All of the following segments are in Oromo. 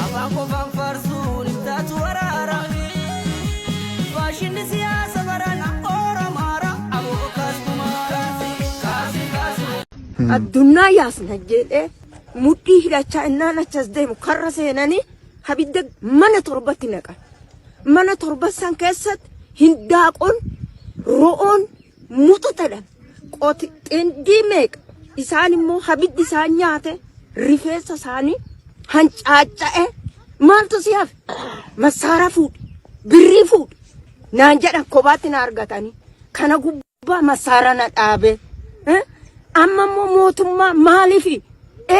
Afaan qofaan faarsuun hin taatu waraara. Faashinni siyaasa barana Oromaara. Aboo kaasumaa. Kaasi kaasi. Addunnaa yaasna jedhee mudhii hidhachaa innaan achas deemu karra seenanii abidda mana torbatti naqan. Mana torba san keessatti hindaaqqoon, ro'oon, mututadhan qoti xindii meeqa isaan immoo habiddi isaan nyaate rifeessa isaanii hancaaca'e maaltu si hafe massaara fuudhi birrii fuudhi naan jedhan kophaatti na argatanii kana gubbaa massaara na dhaabe eh? amma immoo mootummaa maaliifi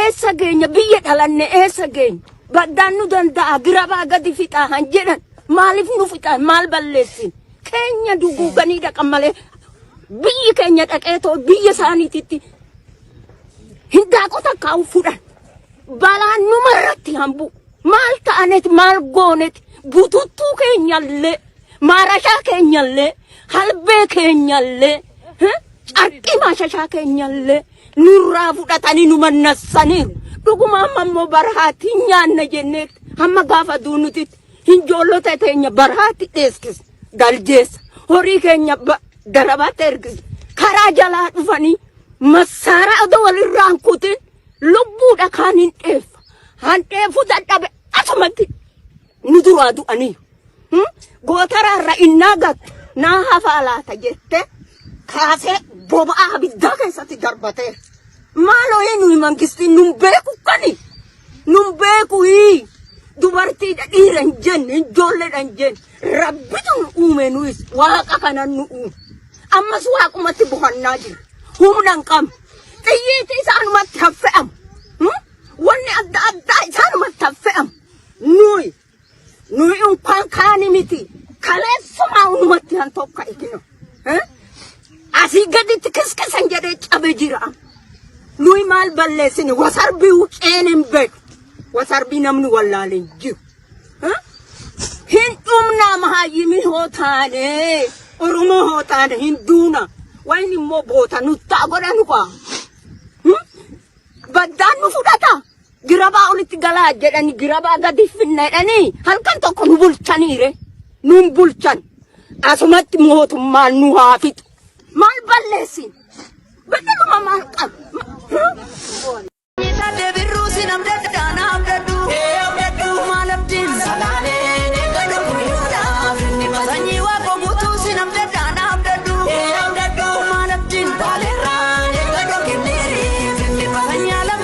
eessa geenya biyya dhalanne eessa geenya baddaan nu danda'a girabaa gadi fixaa han jedhan maaliif nu fixan maal balleessin keenya duguuganii dhaqan malee biyyi keenya dhaqee too biyya isaaniititti hindaaqota kaa'u fudhan balaan numa irratti hambu maal ta'anet maal goonet bututtuu keenyallee maarashaa keenyallee halbee keenyallee eh, carqii maashashaa keenyallee nurraa fudhatanii nu mannassaniiru dhuguma amma immoo barhaatiin nyaanna jenneetti hamma gaafa duunutit Hinjoollota teenya baraatti dheeskis galjeessa. Horii keenya ba- darabaatti ergis. Karaa jalaa dhufanii massaara adoo walirraa hin kutin lubbuudha kaan hin dheeffa. Handheefuu dadhabe asumatti nu duraa du'anii. Hmm? Gootaraa irra innaa gattu naa hafaa laata jette kaasee boba'aa abiddaa keessatti darbatee. Maaloo eenyu mangistiin nun beeku kani? Nun beeku hii dubartiidha dhiira hin jenne hin joolledha hin jenne rabbitu nu uume nuyis waaqa kanan nu uume ammas waaqumatti bohannaa jira humna hin qabne xiyyiiti isaanumatti haffe'amu wanni adda addaa isaanumatti haffe'amu nuyi Nuyi unkaan kaani miti. Kaleessumaa unumatti han tokka ikino. Asii gaditti kiskisan jedhee cabe jira. Nuyi maal balleessine wasarbii wuceen hin beeku. Wasarbii namni wallaale hin jiru. Hin dhumnaa mahayyimii hoo taane Oromoo hoo taane hin duuna. Wayni immoo boota nuttaa godhanu qaa. Baddaan nu fudhata. Girabaa olitti galaa jedhani girabaa gadi finna jedhanii halkan tokko nu bulchaniire. Nun bulchan. Asumatti mootummaan nu haa fixu. Maal balleessin? Battaluma maal qabu?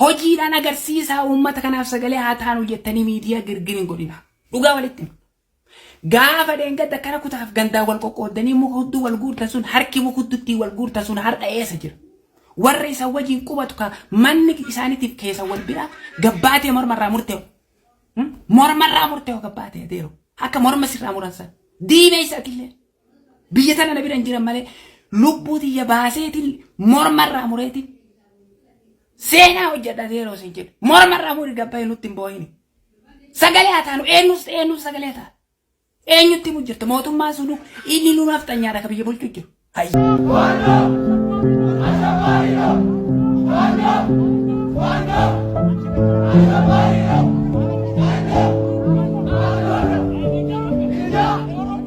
Hojiidhaan agarsiisaa uummata kanaaf sagalee haa taanu jettanii miidiyaa girgir hin godhinaa. Dhugaa walitti hima. Gaafa dheengadda akkana kutaaf gandaa wal qoqqooddanii muka hudduu wal guurtan sun harki muka hudduttii wal guurtan sun har'a eessa jira? Warra isa wajjin qubatu ka manni isaaniitiif keessa wal bira gabbaatee mormarraa murtee'u. Hmm? Mormarraa murtee'u gabbaatee adeeru. Akka morma sirraa muran san. Diina isaatiillee. Biyya tana na bira hin jiran malee lubbuu tiyya baaseetiin mormarraa mureetiin seenaa hojjedha zeeroo siin jedhe mormarraa muri gabbaa'e nutti hin boo'ini. Sagalee haa taanu eenyus ta'e eenyus sagalee haa taanu. Eenyutti himu jirta mootummaan sunu inni nu nafxanyaadha ka biyya bulchu jiru. Hayyi. Thank you.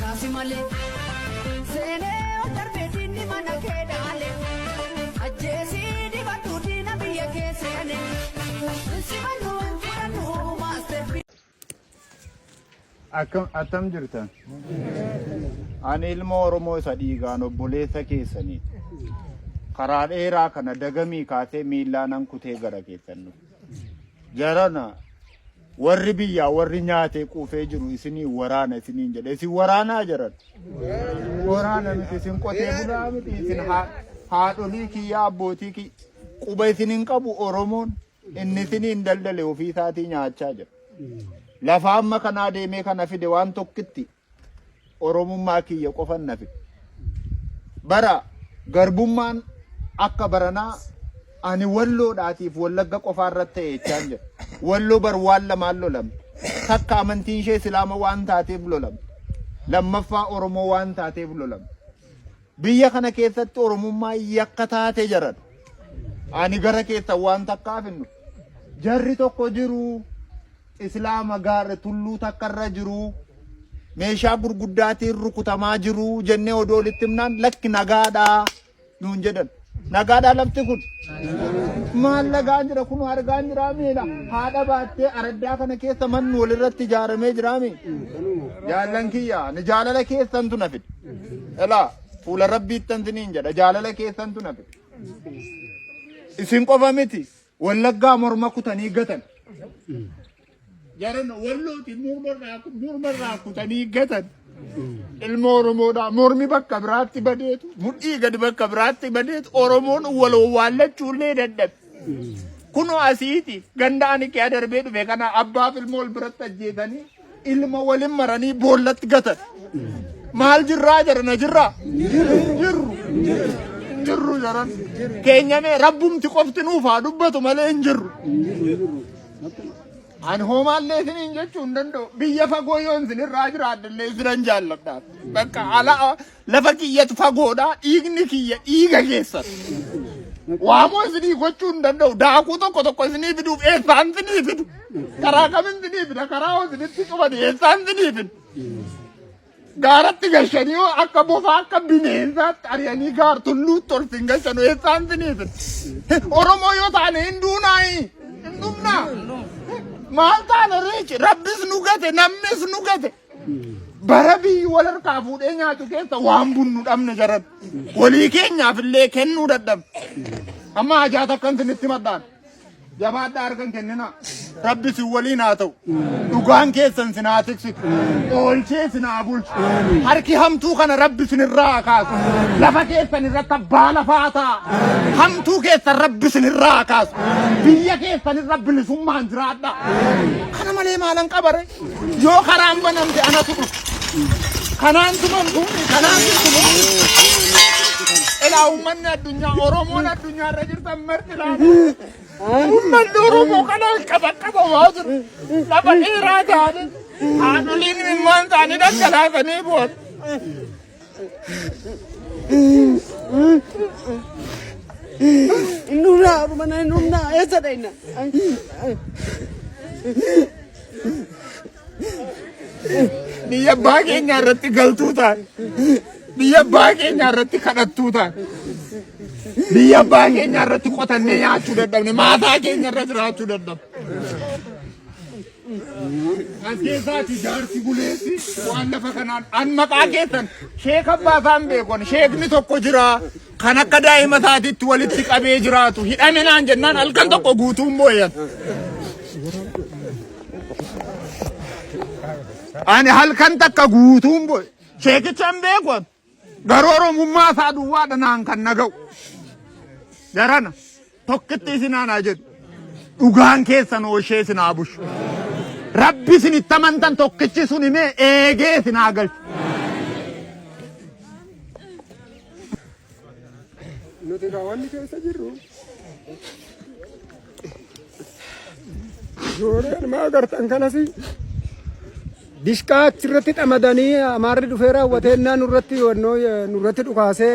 Kaasi malee seenee ol darbee diinni mana kee dhaale ajjeesii dibadhu diina biyya kee seene simannu fudhannu maasterpii. Akkam attam jirtan? Ani ilma Oromoo isa dhiigaan obboleessa keessanii karaa dheeraa kana dagamii kaasee miillaanan kutee gara keessan dhufe. Jarana warri biyyaa warri nyaatee quufee jiru isinii waraana isiniin jedhe isin waraanaa jaran waraana miti isin qotee bulaa miti isin haa- haadholii kiyyaa abbootii kiyya quba isin hin qabu oromoon inni isiniin daldale ofii isaatii nyaachaa jira lafa amma kanaa deemee kana fide waan tokkitti Oromummaa kiyya qofan na fixe. Bara garbummaan akka baranaa ani Walloodhaatiif Wallagga qofaa irratti ta'e jechaan jira. Walloo bar waan lamaan lolamte. Takka amantiin ishee Islaama waan taateef lolamte. Lammaffaa Oromoo waan taateef lolamte. Biyya kana keessatti Oromummaa yakka taate jaran. Ani gara keessan waan takkaaf hin dhufu. Jarri tokko jiru. Islaama gaarre tulluu takka irra jiru meeshaa gurguddaatiin rukutamaa jiru jennee odoo walitti himnaan lakki nagaadha nuun jedhan. Nagaadhaa lafti kun maal lagaa jira kun argaa jira miila haadha baattee araddaa kana keessa manni walirratti ijaaramee jira mi jaallan kiyya ni jaalala keessan tuna fide elaa fuula rabbiittan siniin jedha jaalala keessan tuna fide isin qofa miti Wallaggaa morma kutanii gatan. Jaran wallooti mormarraa kutanii gatan. Ilma Oromoodhaa mormi bakka biraatti badeetu mudhii gadi bakka biraatti badeetu Oromoon waloo waallachuu illee dadhabe. Kunoo asiiti ganda ani kee adarbee dhufe kana abbaaf ilmoo wal biratti ajjeesanii ilma walin maranii boollatti gatan. Maal jirraa jedhan na jirraa? Jirru. Jirru jedhan. Keenyamee rabbumti qofti nuuf haa dubbatu malee hin jirru. Ani hoomaallee isiniin jechuu hin danda'u. Biyya fagoo yoon isinirraa jiraadhallee isinan jaalladhaaf. Bakka ala Lafa kiyyatu fagoodha, dhiigni kiyya dhiiga keessan. Waamoo isinii gochuu hin danda'u. Daakuu tokko tokko isinii fiduuf eessaan isinii fidu. Karaa kam isinii fida? Karaa hoo isinitti cufani eessaan isinii fidu? Gaaratti gashanii hoo akka bofaa akka bineensaatti ari'anii gaar tulluutti ol sin gashanu eessaan isinii fidu? Oromoo yoo taane hin duunaayi. Hin dhumnaa. Maal taana reechi? Rabbis nu gate, namnis nu gate. bara biyyi wal harkaa fuudhee nyaatu keessa waan bunnu dhabne jaran walii keenyaaf illee kennuu dadhabne amma hajaa takkan sinitti madhaan jabaadhaa harkan kennina rabbi sin waliin haa ta'u dhugaan keessan sin haa tiksitu oolchee sin haa bulchu harki hamtuu kana rabbi sin irraa haa kaasu lafa keessan irratti abbaa lafaa ta'a hamtuu keessan rabbi sin irraa haa kaasu biyya keessan irra bilisummaan jiraadha kana malee maalan qabare Yoo karaan banamte anatu dhufu. Kanaan tuman kun kanaan tuman. Ilaa uummanni addunyaa Oromoon addunyaa irra jirtan marti laata. Uummanni Oromoo kana qaba qaba waa jiru. Lafa dheeraa taane haadholiin ilmaan isaanii dhangalaasanii booda. Nuna mana nuna esa daina. Biyya abbaa keenya irratti galtuu ta'a. Biyya abbaa keenya irratti kadhattuu ta'a. Biyya abbaa keenya irratti qotannee nyaachuu dadhabne. Maataa keenya irra jiraachuu dadhabne. Ajjeesaati jaarsi buleessi waan lafa kanaan an maqaa keessan sheek abbaa isaan beekon sheekni tokko jira kan akka daa'ima isaatiitti walitti qabee jiraatu hidhame naan jennaan halkan tokko guutuun booyan. Ani halkan takka guutuun booye sheekicha hin beekon Garuu Oromummaa isaa duwwaadha naan kan na ga'u. Jarana tokkitti isin aanaa jedhu. Dhugaan keessan ooshee isin haa bushu. Rabbi isin itti amantan tokkichi sun himee eegee isin haa galchu. Nuti kaawwanni keessa jirru Suureen maa agartan kanas dishqaa achirratti dhamadanii amaarri dhufee raawwatee innaa nurratti wannoo nurratti dhukaasee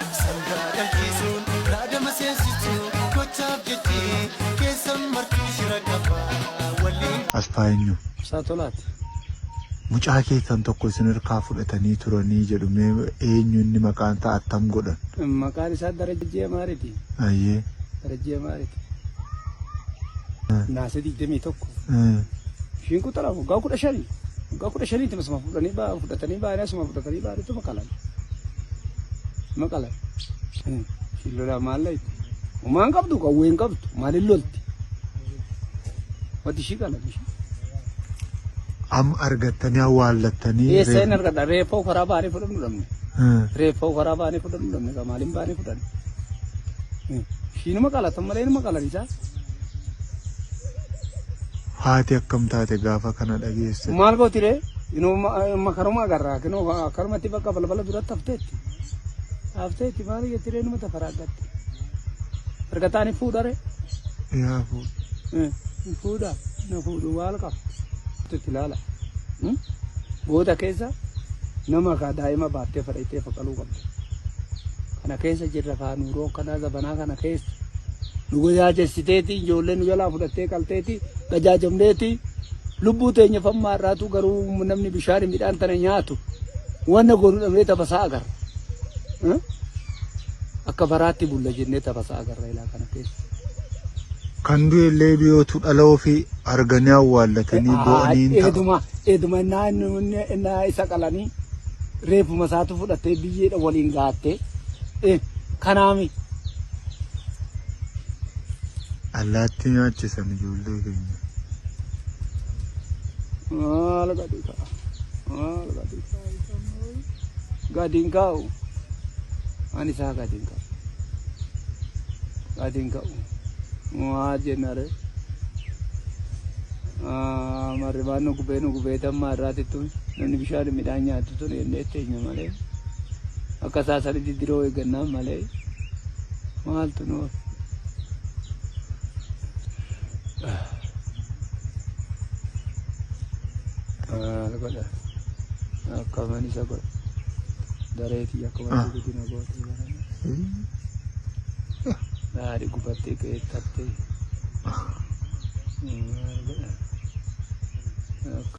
Sangaa dhalchiisuun raadama seensichuu gochaaf jechi keessan martuu shira qaba waliin. Asfaayenyu. Ibsaa Tolaat. Mucaa keessan tokko isin irkaa fudhatanii turanii jedhu mee eenyu inni maqaan isaa attam godhan? Maqaan isaa Darajjee Maariti. Ayyee. Darajjee Maariti. Naasee 21. Ishiin quxara waggaa 15. Waggaa kudha shaniitti asuma fudhanii ba'an fudhatanii ba'anii asuma fudhatanii ba'aniitu maqalan. Maqalan. Ishiin lolaa maal laayite? Homaa hin qabdu qawwee hin qabdu maaliin lolti? Wati ishii qalan ishii. Amma argattanii awwaallattanii. Eessa hin argadha? Reeffa ufaraa ba'anii fudhannu dhabne. Hmm. Reeffa ufaraa ba'anii fudhannu dhabne. Egaa maaliin ba'anii fudhanne? Ishiinuma qalatan malee inuma qalan isaa. Haati akkam taate gaafa kana dhageesse? Maal gooti ree? Inuma karuma agarra karumatti bakka balbala duratti hafteetti. Hafteetti maal jetti ree inuma tafaraaggatti. Argataan hin fuudha ree? Yaa fuudha. Hin fuudha na fuudhu maal qaba? Itti ilaala. Goota keessa nama kaa daa'ima baattee fadhaitee faqaluu qabdi. Kana keessa jirra kaa nuuroo kanaa zabanaa kana keessa. nu gajaajessiteeti ijoollee nu jalaa fudhattee qalteeti gajaajamneeti lubbuu teenya fammaa irraatu garuu namni bishaan midhaan tana nyaatu wanna goonu dhabnee tabasaa agarra. Eh? Akka faraatti bulla jennee tabasaa agarra ilaa kana keessa. Kan du'e illee du'eetu dhala ofii arganii awwaallatanii boo'anii hin ta'a. Eeduma eeduma innaa inni inni innaa isa qalanii reefuma isaatu fudhattee biyyeedha waliin gaattee eh, kanaami Allaattii nyaachisan ijoollee keenya. Maal gadi ka'a? Maal gadi ka'a? Isaan maal? Gadi hin kaa'u. Ani isaa gadi hin kaa'u. Gadi hin kaa'u. Maa jenna ree? Ah, Marri waan nu gubee nu gubee dammaa irraati tun. Namni bishaan midhaan nyaatu tun jennee teenya malee. Akka isaa sani diddiroo eeggannaa malee maaltu nu maal godha akka man isa godha dareetii akka wanti guddina gootee barame daadhi gubattee ka'ee tattee maal godha akka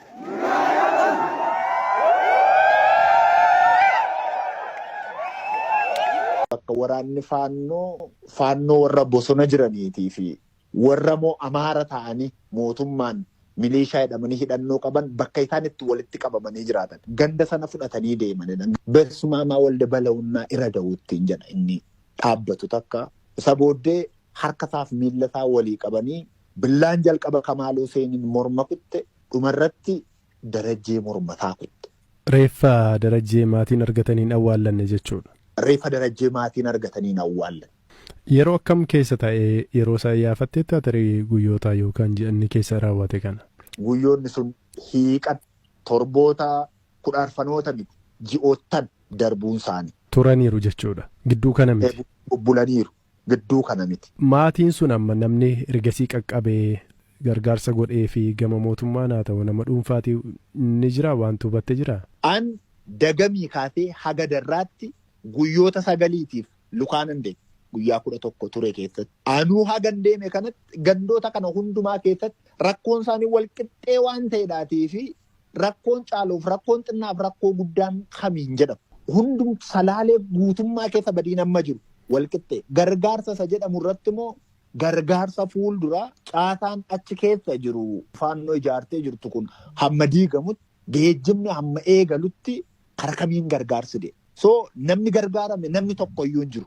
Bakka waraanni faannoo faannoo warra bosona jiraniitii fi warra moo amaara ta'anii mootummaan milishaa jedhamanii hidhannoo qaban bakka isaan itti walitti qabamanii jiraatan ganda sana fudhatanii deemanidha. Bersumaamaa walda balawunnaa ira dawuttiin jedha inni dhaabbatu takka. Isa booddee harka isaaf miilla isaa walii qabanii Billaan jalqaba Kamaal Huseeniin morma kutte, dhumarratti Darajjee mormasaa kutte. Reeffa Darajjee maatiin argatanii hin awwaallanne jechuudha. Reeffa Darajjee maatiin argatanii hin awwaallanne. Yeroo akkam keessa ta'e? Yeroo isaa iyyaafatteettaa tarii guyyoota yookaan ji'a inni keessa raawwate kana? Guyyoonni sun hiiqan torboota, kudha arfanoota miti, ji'oottan darbuunsaanii. Turaniiru jechuudha. Gidduu kana miti. Bubbulaniiru. gidduu kana miti. Maatiin sun amma namni ergasii qaqqabe gargaarsa godhee fi gama mootummaan haa ta'u nama dhuunfaati ni jira waanti hubatte jira? An dagamii kaasee haga darraatti guyyoota sagaliitiif lukaa nan deeme. Guyyaa 11 ture keessatti. Anuu hagan deeme kanatti gandoota kana hundumaa keessatti rakkoon isaanii wal qixxee waan ta'edhaatii fi rakkoon caaluuf rakkoon xinnaaf rakkoo guddaan kamiin jedhamu. Hundum salaalee guutummaa keessa badiin amma jiru walqixxee gargaarsa isa jedhamu irratti immoo gargaarsa fuulduraa caasaan achi keessa jiru faannoo ijaartee jirtu kun hamma diigamutti geejjibni hamma eegalutti Kara kamiin gargaarsi deema? So namni gargaarame namni tokko iyyuu hin jiru.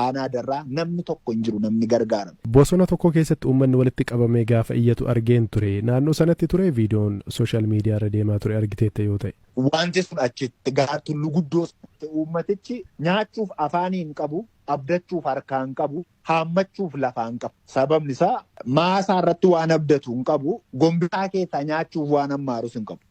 Aanaa Darraa namni tokko hin jiru namni gargaarame. Bosona tokko keessatti uummanni walitti qabamee gaafa iyyatu argeen ture. Naannoo sanatti ture viidiyoon sooshaal miidiyaa irra deemaa ture argiteetta yoo ta'e. Wanti sun achitti gaar tulluu guddoo sanatti uummatichi nyaachuuf afaanii hin qabu, abdachuuf harkaa hin qabu, haammachuuf lafaa hin qabu. Sababni isaa maasaa irratti waan abdatu hin qabu, gombisaa keessaa nyaachuuf waan hammaarus hin qabu.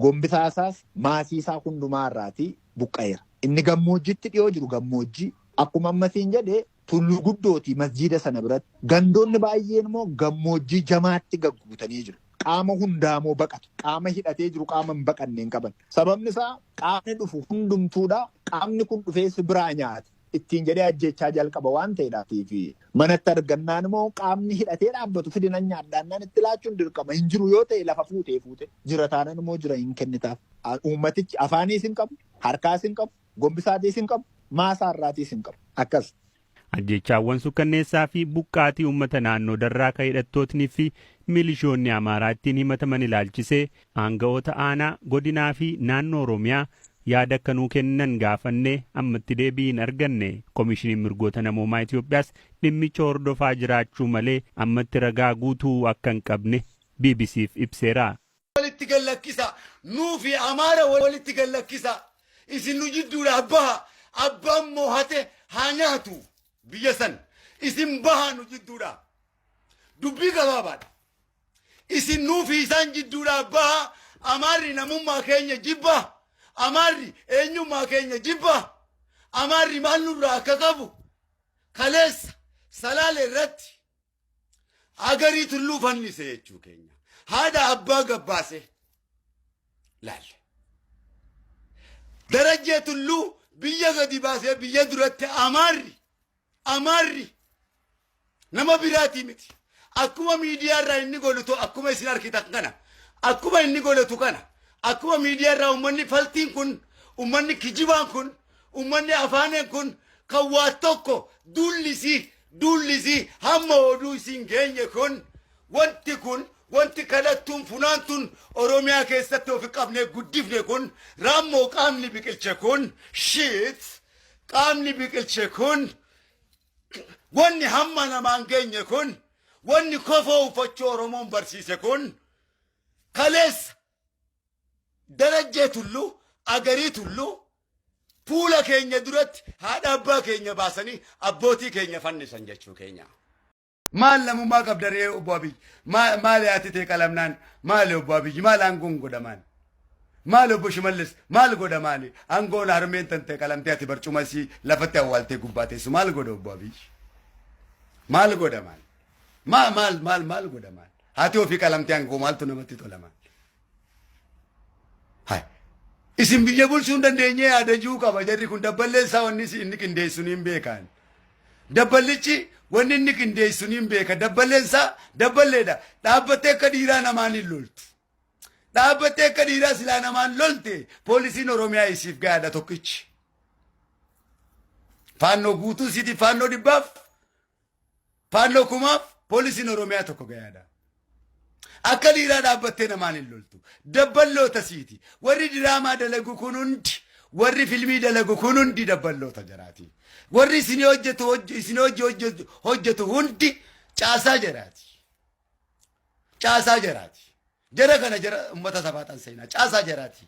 Gombisaa isaas maasii isaa hundumaa irraatii buqqa'eera. Inni gammoojjiitti dhi'oo jiru gammoojjii, akkuma amma siin jedhe tulluu guddooti masjiida sana biratti. Gandoonni baay'een immoo gammoojjii jamaatti gagguutanii jiru. Qaama hundaa immoo baqatu. Qaama hidhatee jiru qaama hin baqanne hin qaban. Sababni isaa qaamni dhufu hundumtuudha. Qaamni kun dhufee si biraa nyaata. ittiin jedhee ajjeechaa jalqaba waan ta'edhaatiif manatti argannaan immoo qaamni hidhatee dhaabbatu fidi nan nyaadhaannaan itti laachuun dirqama hin jiru yoo ta'e lafa fuutee fuute jira taanan immoo jira hin kennitaaf uummatichi afaaniis hin qabu harkaas hin qabu gombisaatiis hin qabu maasaa irraatiis hin qabu akkas. Ajjeechaawwan sukkanneessaa fi buqqaatii uummata naannoo darraa ka hidhattootni fi milishoonni Amaaraa ittiin himataman ilaalchisee Aanga'oota Aanaa, Godinaa fi Naannoo Oromiyaa yaada akka nuu kennan gaafannee ammatti deebii hin arganne. Komishiniin Mirgoota Namoomaa Itoophiyaas dhimmicha hordofaa jiraachuu malee ammatti ragaa guutuu akka hin qabne BBC'f ibseera. walitti gad lakkisaa! Nuu fi Amaara walitti gad lakkisaa! Isin nu jidduudhaa bahaa! Abbaan moohate haa nyaatu biyya san! Isin bahaa nu jidduudhaa! Dubbii gabaabaadha. Isin nuu fi isaan jidduudhaa bahaa, Amaarri namummaa keenya jibba, Amaarri eenyummaa keenya jibba, Amaarri maal nurraa akka qabu kaleessa Salaale irratti Hagarii Tulluu fannise jechuu keenya. Haadha abbaa gabbaase laalle. Darajjee Tulluu biyya gadi baasee biyya duratti Amaarri Amaarri nama biraatii miti. Akkuma miidiyaa irraa inni golutu akkuma isin arkitan kana akkuma inni golotu kana akkuma miidiyaa irraa ummanni faltiin kun ummanni kijibaan kun ummanni afaaneen kun kan waa tokko duullisii duullisii hamma oduu isin geenye kun wanti kun wanti kadhattuun funaantuun Oromiyaa keessatti ofi qabnee guddifne kun raammoo qaamni biqilche kun shiit Qaamni biqilche kun wanni hamma namaan geenye kun wanni kofoo uffachuu Oromoon barsiise kun kaleessa darajjee tullu agarii tullu fuula keenya duratti haadha abbaa keenya baasanii abbootii keenya fannisan jechuu keenya. Maal namummaa qabda ree obbo Abiyyi? Maa- Maali haati tee qalamnaan? Maali obbo Abiyyi? Maal aangoon godha maali? Maali obbo Shimallis? Maal godha maali? Aangoon harmeen tan ta'e qalamtee ati barcuma isii lafatti awwaaltee gubbaa teessu maal godha obbo Abiyyi? Maal godha maali? Maa maal maal maal godha maali? Haati ofii qalamtee aangoo maaltu namatti tola maali? Hai. Isin biyya bulchuu hin dandeenye yaadajuu qaba jarri kun dabballee isaa wanni si- inni qindeessu niin beekaan. Dabballichi wanni inni qindeessu niin beeka dabballeen isaa dabballeedha dhaabbattee akka dhiiraa namaan hin loltu. Dhaabbattee akka dhiiraa silaa namaan lolte poolisiin Oromiyaa isiif gaadha tokkichi. Faannoo guutuu siiti faannoo dhibbaaf Faannoo kumaaf poolisiin Oromiyaa tokko gayaadha. Akka dhiiraa dhaabbattee namaan hin loltu. Dabballoota siiti. Warri diraamaa dalagu kun hundi warri filmii dalagu kun hundi dabballoota jaraati. Warri isin hojjetu hojj- isin hojj- hojjetu hojjetu hundi caasaa jaraati. Caasaa jaraati. Jara kana jara ummata sabaa tan seenaa. Caasaa jaraati.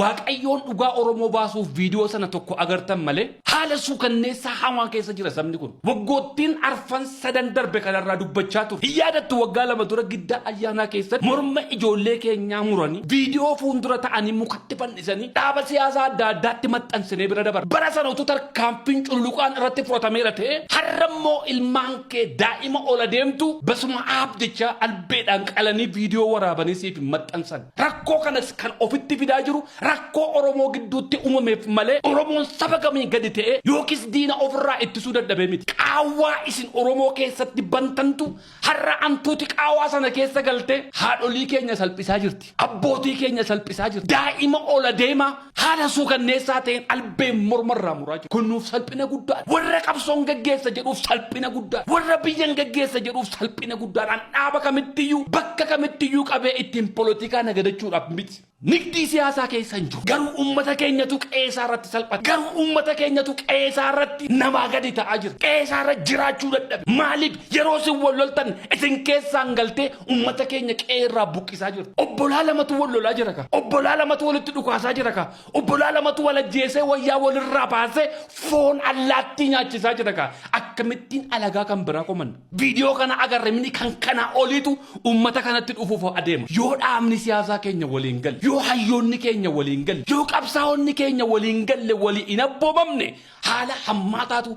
Waaqayyoon dhugaa Oromoo baasuuf viidiyoo sana tokko agartan malee haala suukanneessaa hamaa keessa jira sabni kun. Waggoottiin arfan sadan darbe kanarraa dubbachaa turre. Hin yaadattu waggaa lama dura giddaa ayyaanaa keessatti morma ijoollee keenyaa muranii viidiyoo fuundura ta'anii mukatti fannisanii dhaaba siyaasaa adda addaatti maxxansinee bira dabarre. Bara sana utuu tarkaanfiin cululuqaan irratti fudhatameera ta'ee har'a immoo ilmaan kee daa'ima ol adeemtu basuma aab jechaa albeedhaan qalanii viidiyoo waraabanii siif hin maxxansan. Rakkoo kanas kan ofitti fidaa jiru rakkoo Oromoo gidduutti uumameef malee Oromoon saba kamiin gadi ta'ee yookiis diina ofirraa ittisuu dadhabee miti. Qaawwaa isin Oromoo keessatti bantantu har'a antuuti qaawaa sana keessa galtee haadholii keenya salphisaa jirti. Abbootii keenya salphisaa jirti. Daa'ima ol adeemaa Haala suukanneessaa ta'een albeen morma irraa muraa jiru. Kun nuuf salphina guddaadha. Warra qabsoon gaggeessa jedhuuf salphina guddaadha. Warra biyyan gaggeessa jedhuuf salphina guddaadha. An dhaaba kamittiyyuu, bakka kamittiyyuu qabee ittiin polotikaa nagadachuudhaaf miti. Nigdii siyaasaa keessa hin jiru. Garuu uummata keenyatu qe'ee isaa irratti salphate. Garuu uummata keenyatu qe'ee isaa irratti namaa gadi ta'aa jira. Qe'ee isaa irra jiraachuu dadhabe. Maaliif yeroo isin wal loltan isin keessaan galtee Ummata keenya qe'ee irraa buqqisaa jirtu. Obbolaa lamatu wal lolaa jira ka. Obbolaa lamatu walitti dhukaasaa jira ka. Obbolaa lamatu wal ajjeesee wayyaa walirraa baasee foon allaattii nyaachisaa jira ka. Akkamittiin alagaa kan biraa komanna? Viidiyoo kana agarre mini kan kanaa oliitu ummata kanatti dhufuuf adeema. Yoo dhaabni siyaasaa keenya walii hin galle, yoo hayyoonni keenya walii hin galle, yoo qabsaa'onni keenya walii hin galle, walii hin abboomamne haala hammaataatu